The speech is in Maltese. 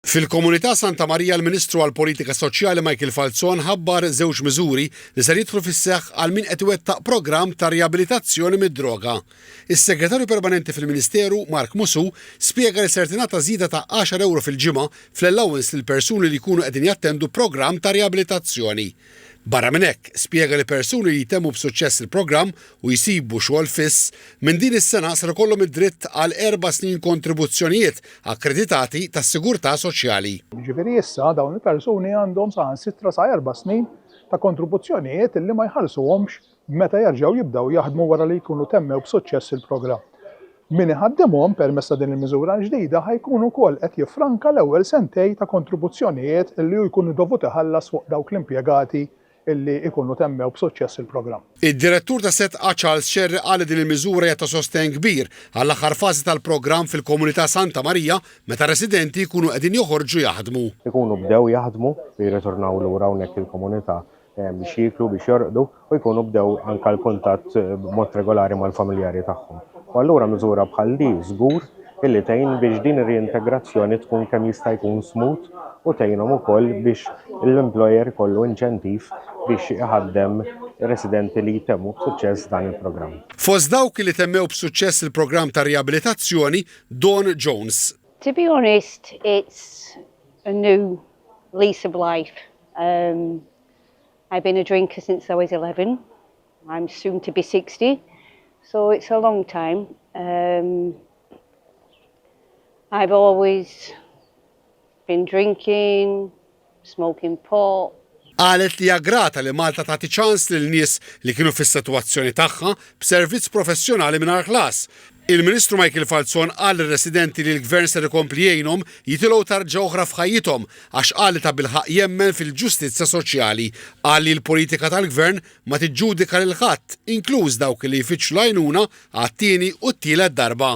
Fil-Komunità Santa Marija l-Ministru għall-Politika Soċjali Michael Falzon ħabbar żewġ miżuri li ser jidħlu fis-seħħ għal min qed iwettaq programm ta' riabilitazzjoni mid-droga. Is-Segretarju Permanenti fil-Ministeru, Mark Musù, spjega li ser tingħata żieda ta' għaxar ewro fil-ġimgħa fl-allowance lill-persuni li jkunu qegħdin jattendu programm ta' riabilitazzjoni. Barra minn hekk, spjega li persuni li jtemmu b'suċċess il-programm u jsibu xogħol fiss, minn din is-sena ser ikollhom id-dritt għal erba' snin kontribuzzjonijiet akkreditati tas-sigurtà soċjali. Jiġifieri issa dawn il-persuni għandhom saħansitra sa erba' snin ta' kontribuzzjonijiet li ma jħallsuhomx meta jerġgħu jibdew jaħdmu wara li jkunu temmew b'suċċess il-programm. Min iħaddimhom permezz ta' din il-miżura l-ġdida ħa jkun ukoll qed jiffranka l-ewwel sentejn ta' kontribuzzjonijiet li hu jkun dovut iħallas fuq dawk l-impjegati li jkunu temmew b'suċċess il-programm. Id-Direttur ta' SETCA Charles Cerri qal li din il-miżura hija ta' sostenn kbir għall-aħħar fażi tal-programm fil-komunità Santa Marija meta r-residenti jkunu qegħdin joħorġu jaħdmu. Ikunu bdew jaħdmu li jirritornaw lura hawnhekk il-komunità biex jieklu, biex jorqdu u jkunu bdew anke l-kuntatt b'mod regolari mal-familjari tagħhom. U allura miżura bħal di żgur illi tgħin biex din ir-riintegrazzjoni tkun kemm jista' jkun smooth u tgħinhom ukoll biex l-employer ikollu inċentiv biex iħaddem residenti li jtemmu b'suċċess dan il-programm. Fost dawk li temmew b'suċċess il-programm ta' riabilitazzjoni, Dawn Jones. To be honest, it's a new lease of life Um, I've been a drinker since I was 11. I'm soon to be 60, so it's a long time. Um, I've always been drinking, smoking pot. Qalet li grata li Malta tagħti ċans lil nies li kienu fis-sitwazzjoni tagħha b'servizz professjonali mingħajr ħlas, Il-Ministru Michael Falzon qal lir-residenti li l-Gvern ser ikompli jgħinhom jitilgħu tarġa oħra f'ħajjithom għax qal li tabilħaqq jemmen fil-ġustizzja soċjali. Qal li l-politika tal-Gvern ma tiġġudika lil ħadd, inkluż dawk li jfittxu l-għajnuna għat-tieni u t-tielet darba.